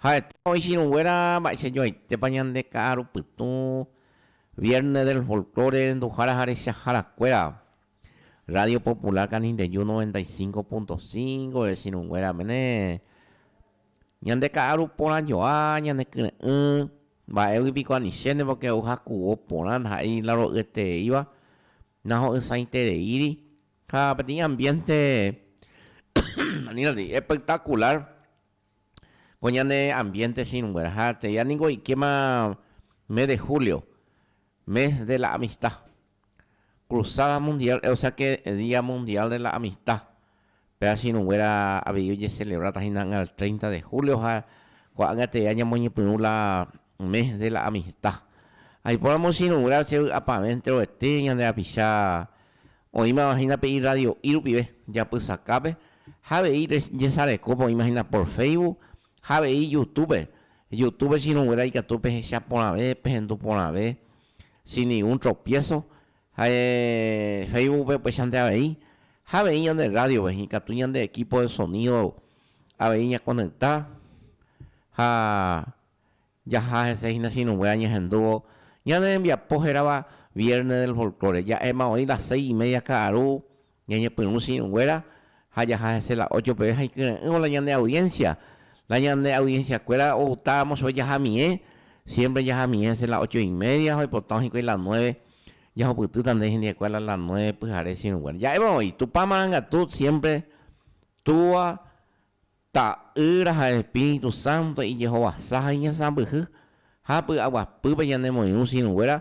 Ha'ete oĩ chirũnguéra mba'eichajoaitépa ñande ka'arupytũ Viernes del Folklore renduhára ha rechahárakuéra. Radio Popular Canindeyú 95.5 chirũnguéra mene. Ñande ka'aru porã joa, ñane kyre'ỹ, mba'égui piko anichénepa que ojakuvo porã ndaha'éi la ro'yetereíva, naho'ysãitereíri, ha peteĩ ambiente aníntandi espectacular ko ñane ambiente che irũnguéra ha tei ani ko oikéma mes de julio Mes de la Amistad, Cruzada Mundial, o sea que Día Mundial de la Amistad, pe asinuguéra avei ojecelebráta hína ág̃a el 30 de julio ha ko'ág̃a tee ñamoñepyrũ la Mes de la Amistad. Aipóramo asinuguéra che vy'apavẽ enteroete ñande rapicha oĩmava hína pe irradio'i rupive japysakápe ha avei jesarekópa oĩma hína por Facebook Ha avei Youtube, Youtube chiruguéra ikatu pehecha porãve, pehendu porãve, sin ningún tropiezo, ha Facebookpe upeichante avei, ha avei ñande rrádiove, ikatu ñande equipo de sonido avei ñakonecta ha Jaha hese hína chinugué añehendúvo ñane rembiapo hérava Viernes del Folklore. Ja'éma oĩ las seis y media ka'aru ñañepyrũ chinuguéra ha jaha hese la ocho peve ha ikyre'ỹvo la ñande audiencia. La ñande audiencia kuéra outáramo chove jahamiẽ, siempre jahamiẽ hese la ocho y media ha oipotao hikuái la nueve. Jahupytýta ndéi hendihekue a la las nueve pyhare chinuguéra. Ja'éma oĩ, Tupã marangatu siempre túva Ta'ýra ha Espíritu Santo ijehovasa ha iñesãmbyhy, ha py'aguapýpe ñanemoirũ syrũnguéra,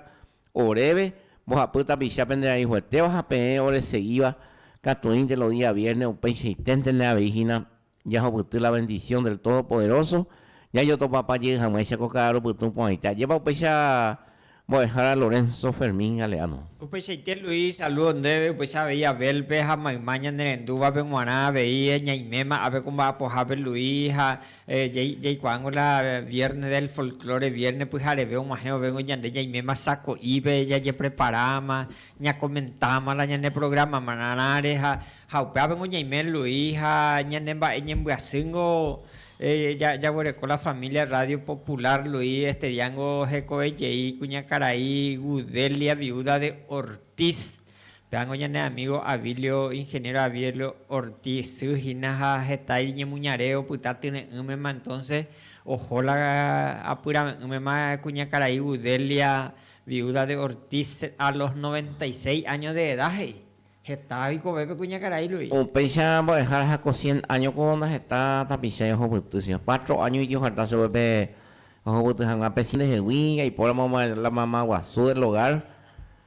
oréve, mbohapy tapicha pende rayhuetéva ha peẽ oresegíva katuĩnte lo día vierne upeichaiténtene avei hína jahupyty la bendición del Todopoderoso, jajotopapajey hag̃uáicha ko ka'arupytũ porãite. Ajépa upéicha! Mbo'ehára Lorenzo Fermín Galeano. Upeichaite Luis, salúdo ndéve, upeicha avei Abel-pe ha mayma ñanerendúvape g̃uarã avei ñaiméma ápe ko mba'apohápe Luis ha jaikuaángo la Viernes del Folklore, vierne pyhareve og̃uahẽ ovéngo ñande ñaiméma sako'ípe jajepreparáma, ñakomentáma la ñaneprogramarãre ha Ha upévagui ñaime Luis ha ñane mba'e ñembyasýngo jaguereko la familia Radio Popular, Luis estediángo hekove jey kuñakarai Gudelia viuda de Ortiz, pévagui ñane amigo Avilio, ingeniero Avilio Ortiz sy hína ha heta iñemuñare opyta tyre'ỹmema entonces oho la apyrave'ỹmema kuñakarai Gudelia viuda de Ortiz a los noventa y seis años de edad he'i. Heta oikove pe kuñakarai Luis. Upéicha mbo'ehára ha ko cien áñoko ndaheta tapichái ohopyty, sino cuatro áño iti oferta chupe pe ohopyty hag̃ua pe cien ndehegui, jaipóramo la mama guasu del hogar,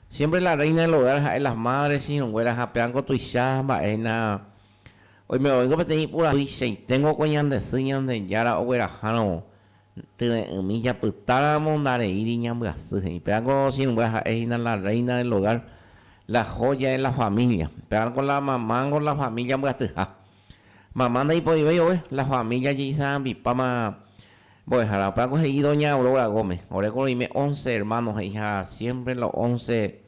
siempre la reina del hogar ha'e las madres irũnguéra ha péango tuicha mba'e hína oime oĩngo peteĩ ipurajuichaiténgo ko ñande sy Ñandejára oguerahárõ Tyre'ỹmi japytáramo ndareíri ñambyasy, he'i. Péva ko sirvua ha'e hína la reina del hogar, la joya de la familia. Péva ko la mamá niko la familia mbyatyha. Mamá ndaipoivéi ogue, la familia jeisa'apipáma mbo'ehára. Upéva ko he'i doña Aurora Gómez, ore ko roime once hermanos he'iha siempre los once.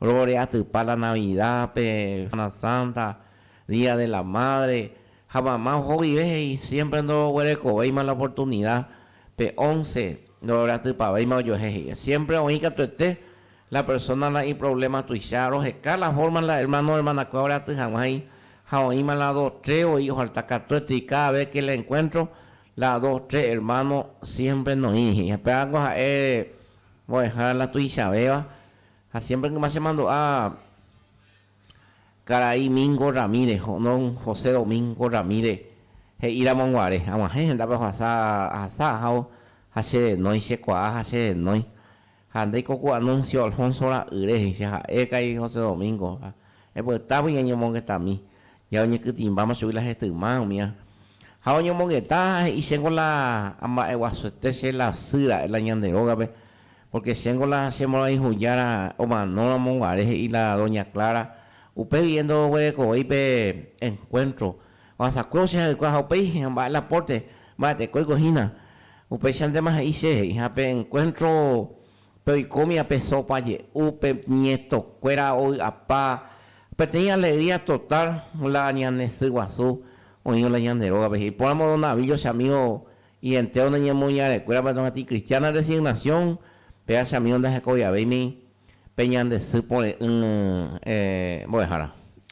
Roreatypa la Navida pe Semana Santa, Día de la Madre, ha mama ohoguive he'i siempre ndoroguerekovéima la oportunida pe once, ndororeatypavéima ojuehe he'íva. Siempre oĩ katuete la persona la iproblema tuicha, roheka la forma la hermano hermanakue oreaty hag̃ua he'i, ha oĩma la dos tres voi ofalta katuetéi, cada vez que la encuentro la dos tres hermano siempre noĩri he'i. Pévako ha'e Mbo'ehára la tuichavéva ha siémpre yma chemandu'a karai Mingo Ramírez, don José Domingo Ramírez he'íramo guare, ag̃uahẽ hendápe ohasa ahasa ahávo ha che renói, che kuaa ha che renói. Ha ndaiko ku Anuncio Alfonso ra'yre, he'icha ha'e karai José Domingo, ha epytávo iñañomongetami. Ya oñekytĩmbáma chugui la hetyma umía. Ha oñomongeta ha he'i chéngo la amba'eguasuete che la sy ra'e la ñande rógape, pórke chéngo la che mborayhu jára omanóramo guare he'i la doña Clara, upe vie ndoguerekovéi pe enkuéntro ohasakue che ha'ykua ha upéi mba'e la pórte mba'etekóiko hína. Upéichantéma he'i che he'i ha pe enkuéntro Pe oikómia pe sópa je'u pe ñetokuéra ovy'apa peteĩ alegría total la ñane sy guasu oĩvo la ñande rógape. Iporãmo don Navíllo che amígo ientéro nde ñemoñarekuérape ndohasy ikristiána resignación, péva che amígo ndahekoviavéimi pe ñande sy pore'ỹ mbo'ehára.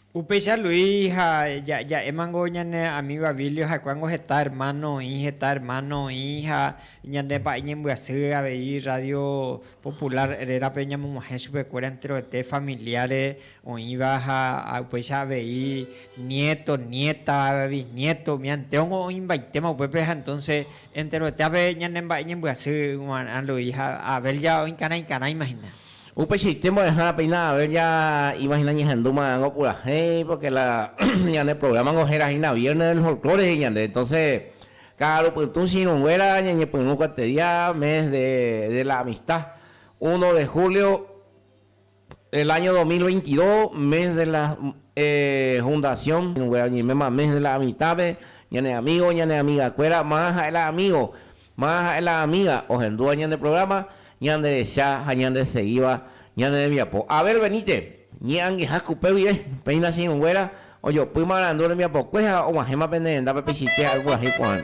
Upéicha Luis ha ja'émango ñane amígo Avilio ha'ekuángo heta ermáno oĩ, heta ermáno oĩ ha ñande pa'i ñembyasy avei Rrádio Popular rérape ñamog̃uahẽ chupekuéra enteroete familiare oĩva ha upéicha avei niéto, niéta, bisniéto umi entérongo oĩmbaitéma upépe ha entónse enteroetéape ñane mba'e ñembyasy g̃uarã Luis ha Abel ja oĩkarãikarãima hína. Upeichaite mbo'ehára péina haber ya imagina ñahendu marãngo purahéi porque la ñane programa ngo héra hína viernes del folklore he'i ñande entonces ka'aru pytũ che irũ nguéra ñañepyrũ kuante día mes de de la amistad uno de julio del año dos mil veintidós mes de la eh fundación irũ nguéra oñeiméma mes de la amistad-pe ñane amigo ñane amiga kuéra marã ha'e la amigo Ma ha'e la amiga ohendúva ñande programa, ñanderecha ha ñandesegíva ñane rembiapo. Abel Benítez, Ñe'angeha kupe guive, péina che irũnguéra ojopy marandu rembiapokue ha og̃uahẽma pende rendápe Pichite ha ypyahýi porã.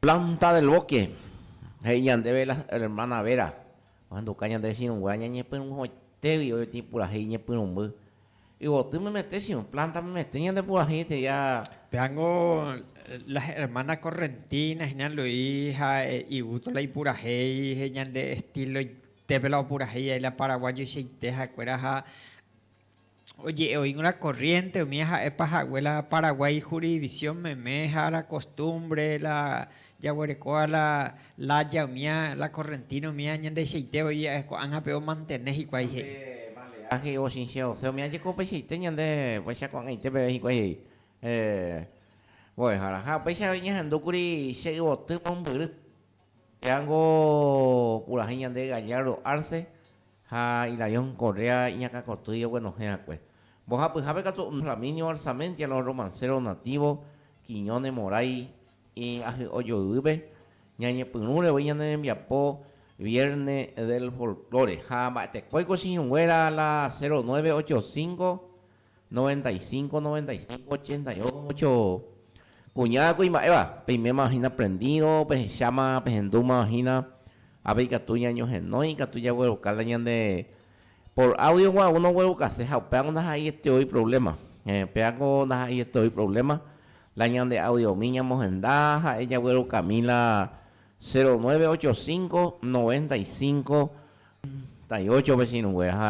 Planta del Boque, he'i ñandéve la ermána Vera, ohenduka ñande chirũnguéra ñañepyrũhoitégui oĩtĩ purahéi iñepyrũmby. Yvoty memetẽ chirũ, planta memetẽ ñande purahéi eteja. Péango la ermána Correntina hina Luis ha igusto la ipurahéi, he'i ñande estíloitépe la opurahéi aila paraguájoichaite ha'ekuéra ha. oje'e'oíkuri la corriente umi ha'épa hague la Paraguay jurisdicción meme ha la costumbre la jaguerekóva la laya umi la correntina umi ñandehechaite voi ko'ág̃ape omantene hikuái he'i. Balear he'i ochichẽ osẽ umi ajeko upeichaite ñande vaicha ko'ag̃aite peve hikuái he'i mbo'ehára ha upéicha avei ñahendúkuri che yvoty mombyry péango purahéi ñande Gallardo Arce ha Hilarión Correa iñakãkotýi oguenohẽ akue. Mbohapyhápe katu ome'ẽ Flaminio Arzamendi a los romanceros nativos, Quiñones Moray y Ahy'o Joyvýpe, Ñañepyrũre voi ñane rembiapo Vierne del Folklore ha mba'etekóiko che irũnguéra la 0985, Noventa y cinco, noventa y cinco, ochenta y ocho, Kuña kuimba'éva, peiméma hína prendido, pehecháma, pehendúma hína, ha peikatu ñañohenói ikatu jagueroka la ñande por audio gua uno oguerokase ha upéva ko ndaha'eiete oĩ problema, eh, péva ko ndaha'eiete oĩ problema, la ñande audiomi ñamohenda ha'e jaguerokami la cero nueve ocho cinco, noventa y cinco, ochenta y ocho pe che irũnguéra ha.